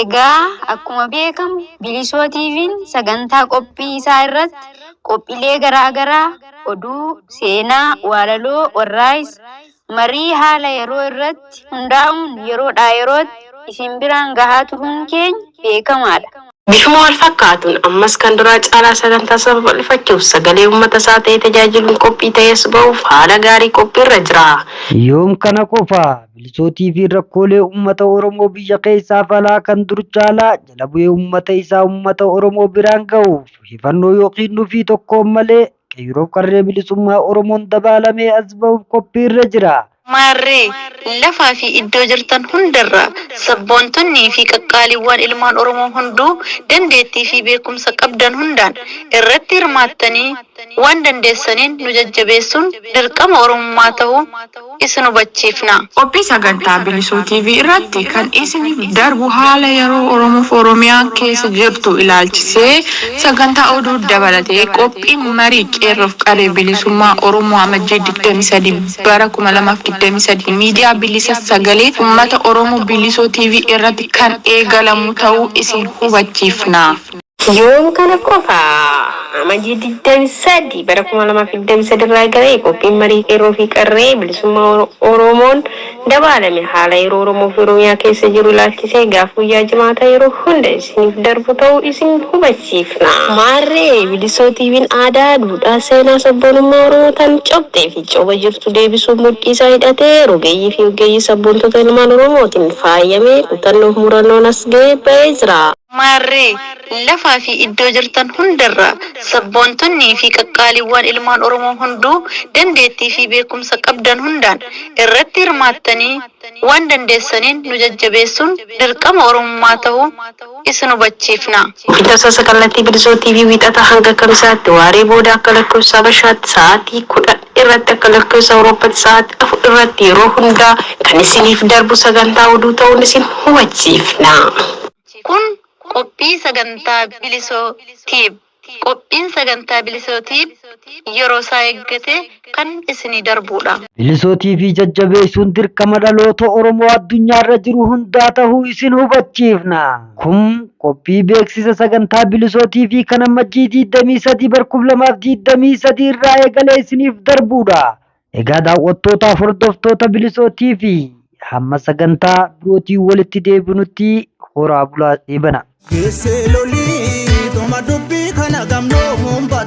Egaa akkuma beekamu Bilisoo TVn sagantaa qophii isaa irratti qophilee garaa garaa, oduu, seenaa, waalaloo, warraaqs, marii haala yeroo irratti hundaa'uun yeroodhaa yerootti isin biraan gahaa turuun keenya beekamaadha. Bifuma wal fakkaatuun ammas kan duraa caalaa sagantaa isaa babal'ifachuuf sagalee uummata isaa ta'ee tajaajiluun qophii ta'ees ba'uuf haala gaarii qophii irra jira. Yoom kana qofa Milisootii fi rakkoolee uummata Oromoo biyya keessaaf alaa kan dur caalaa jala bu'ee uummata isaa uummata Oromoo biraan gahuuf hifannoo yookiin nufii tokkoon malee qeeyroof qarree bilisummaa Oromoon dabaalamee as bahuuf qophii irra jira. Maarree, lafaa fi iddoo jirtan hundarraa sabboontonnii fi qaqqaaliiwwaan ilmaan Oromoo hunduu dandeettii fi beekumsa qabdan hundaan irratti hirmaattanii waan dandeessaniin nu jajjabeessuun dirqama Oromummaa tahuu isin hubachiifna. Qophii sagantaa Bilisuu TV irratti kan isiniif darbu haala yeroo Oromoof Oromiyaan keessa jirtu ilaalchisee sagantaa oduu dabalatee qophiin marii Qeerroof Qarree Bilisummaa Oromoo Amajjii 23 bara 2023 miidiyaa bilisa sagalee ummata Oromoo Bilisuu TV irratti kan eegalamu ta'uu isin hubachiifna. Yoom kana qofa? Amajjii 23 bara 2023 irraa eegalee qophiin marii qeerroo fi qarree bilisummaa Oromoon dabaalame haala yeroo Oromoo fi Oromiyaa keessa jiru ilaalchisee gaaf guyyaa Jimaataa yeroo hunda isiniif darbu ta'uu isin hubachiifna. Maarree Bilisoo TVn aadaa, duudhaa, seenaa, sabboonummaa Oromoo tan cobxee fi coba jirtu deebisuuf mudhii isaa hidhatee rogeeyyii fi oggeeyyii sabboontota ilmaan Oromootiin faayamee kutannoo fi murannoon as gahee ba'ee jira. Maarree, lafaa fi iddoo jirtan hundarraa sabboontonnii fi qaqqaaliiwwaan ilmaan Oromoo hunduu dandeettii fi beekumsa qabdan hundaan irratti hirmaattanii waan dandeessaniin nu jajjabeessuun dirqama Oromummaa tahuu isin hubachiifna. Guyyaa Tamsaasa Kallattii Bilisoo TV Wiixataa hanga Kamisaatti waaree booda akka lakkoofsa Habashaatti sa'aatii 10:00. irratti akka lakkoofsa Awurooppatti sa'aatii afur irratti yeroo hundaa kan isiniif darbu sagantaa oduu ta'uun isin hubachiifna. Kun qophii sagantaa Bilisoo Tube. Qophiin sagantaa Bilisoo Tube yeroo isaa eeggate kan isinii darbuudha. Bilisoo TV jajjabeessuun dirqama dhaloota Oromoo addunyaarra jiru hundaa ta'uu isin hubachiifna. Kun qophii beeksisa sagantaa Bilisoo TV kan ammajjii 23 bar 2023 irraa eegalee isiniif darbuudha. Egaa daawwattootaaf hordoftoota Bilisoo TV hamma sagantaa birootiin walitti deebinutti horaa bulaa eebana. Keessee lolii dhuma dubbii kana gamnoo muumba